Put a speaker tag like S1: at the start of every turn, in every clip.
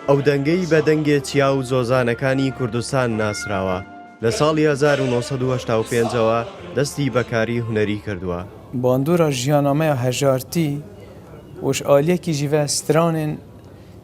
S1: ئەو دەنگەی بە دەنگێ چیا و زۆزانەکانی کوردستان ناسراوە، لە ساڵی 1985ەوە دەستی بە کاری هونەری کردووە. باندورا
S2: ژیانامەیە هەژارتی وش ئالیەکی ژیڤە سترانێن،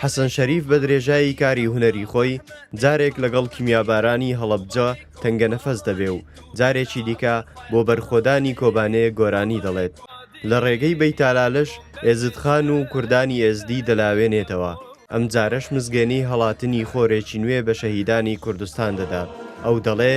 S1: حەسەن شەریف بە درێژایی کاری هونەری خۆی جارێک لەگەڵ کیمیابارانی هەڵەبجە تەنگەنەفەس دەبێ و جارێکی دیکە بۆ بەرخۆدانی کۆبانێ گۆرانی دەڵێت لە ڕێگەی بەیتالالش ئێزدخان و کوردانی ئێزدی دەلاوێنێتەوە ئەم جارەش مزگێنی هەڵاتنی خۆرێکی نوێ بە شەهیدانی کوردستان دەدات ئەو دەڵێ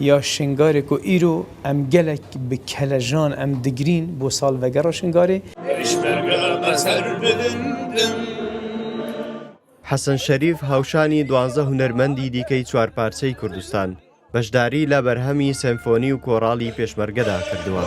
S2: یا شنگارێک و ئیرۆ ئەم گەلەک بە کەلەژان ئەم دگرین بۆ ساڵ ڤەگەڕ شنگارێ.
S1: حەسەن شەریف هاوشانی دوانزە هونەرمەندی دیکەی چوار پارچەی کوردستان، بەشداری لە بەرهەمی سەمفۆنی و کۆڕاڵی پێشمەرگەدا کردووە.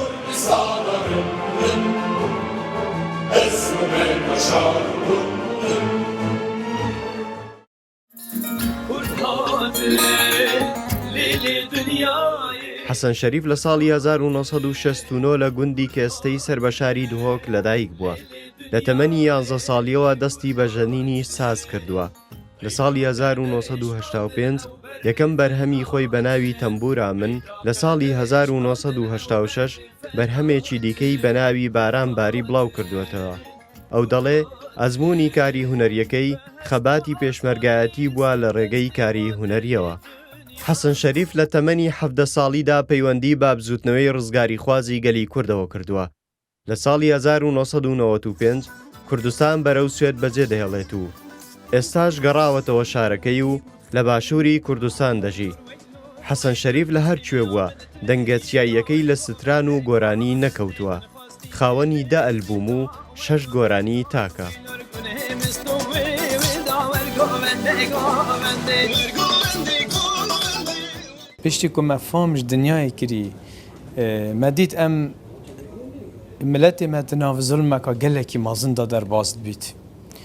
S1: حەسەن شەریف لە ساڵی 1969 لە گوندی کێستەی سەر بە شاری دهۆک لەدایک بووە لە تەمەنی یانزە ساڵیەوە دەستی بە ژەنینی ساز کردووە لە ساڵی 1995 یەکەم بەرهەمی خۆی بە ناوی تەمبورا من لە ساڵی 1986 بەرهەمێکی دیکەی بە ناوی باران باری بڵاو کردوێتەوە ئەو دەڵێ، ئەزموونی کاری هونەرییەکەی، خەباتی پێشمەرگایەتی بووە لە رێگەی کاری هونەرییەوە. حەسەن شەریف لە تەمەنی حەڤدە ساڵیدا پەیوەندی بە بزووتنەوەی رزگاریخوازی گەلی کوردەوە کردووە. لە ساڵی هەزار و نۆ سەد و نەوەد و پێنج کوردستان بەرەو سوێد بەجێدەهێڵێت و ئێستاش گەڕاوەتەوە شارەکەی و لە باشووری کوردستان دەژی. حەسەن شەریف لە هەر کوێ بووە، دەنگە چیاییەکەی لە ستران و گۆرانی نەکەوتووە. خاوەنی دە ئەلبووم و شەش گۆرانیی تاکە.
S2: پشتی کو مە فامژ دنیای کری مە دیت ئەم ملەتی مە تناڤ زولمەکا گەلەکی مازن دا دەرباز بیت.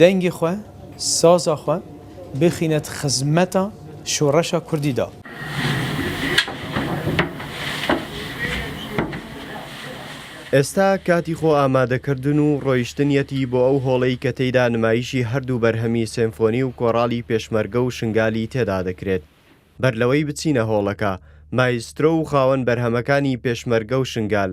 S2: دەنگی خۆ، سازا خۆ بخینێت خزمەتا شۆڕەشا کوردی دا.
S1: ئێستا کاتی خۆ ئامادەکردن و ڕۆیشتنیەتی بۆ ئەو هۆڵەی کە تێیدا نمایشی هەردوو بەرهەمی سێمفۆنی و کۆڕاڵی پێشمەرگە و شنگالی تێدا دەکرێت. بەرلەوەی بچینە هۆڵەکە، مایسترۆ و خاوەن بەرهەمەکانی پێشمەرگە و شنگال،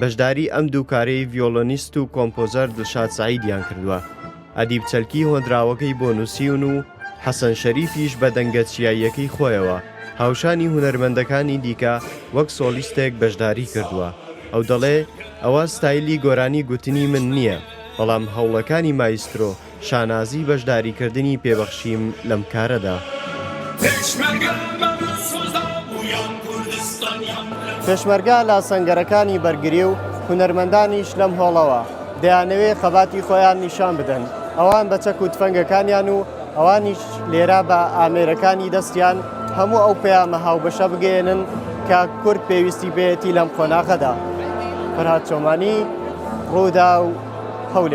S1: بەشداری ئەم دوو کارەی ڤیۆڵۆنیست و کۆمپۆزەر دڵشاد سەعیدیان کردووە، ئەدیب چەلکی هۆنراوەکەی بۆ نووسیون و حەسەن شەریفیش بە دەنگە چیاییەکەی خۆیەوە هاوشانی هونەرمەندەکانی دیکە وەک سۆڵیستێک بەشداری کردووە، ئەو دەڵێ ئەوە ستایلی گۆرانی گوتنی من نییە، بەڵام هەوڵەکانی مایسترۆ. شانازی بەشداریکردنی پێ بەخشیم لەم کارەدا. پێشمەرگە لە سەنگەرەکانی بەرگری و هونەرمەندانیش لەم هۆڵەوە، دەیانەوێ خەباتی خۆیان نیشان بدەن، ئەوان بە چەک و تفەنگەکانیان و ئەوانیش لێرە بە ئامێرەکانی دەستیان، هەموو ئەو پەیامە هاوبەشە بگەیەنن کە کورد پێویستی پێیەتی لەم قۆناغەدا. فەرهاد چۆمانی، رووداو، هەولێر.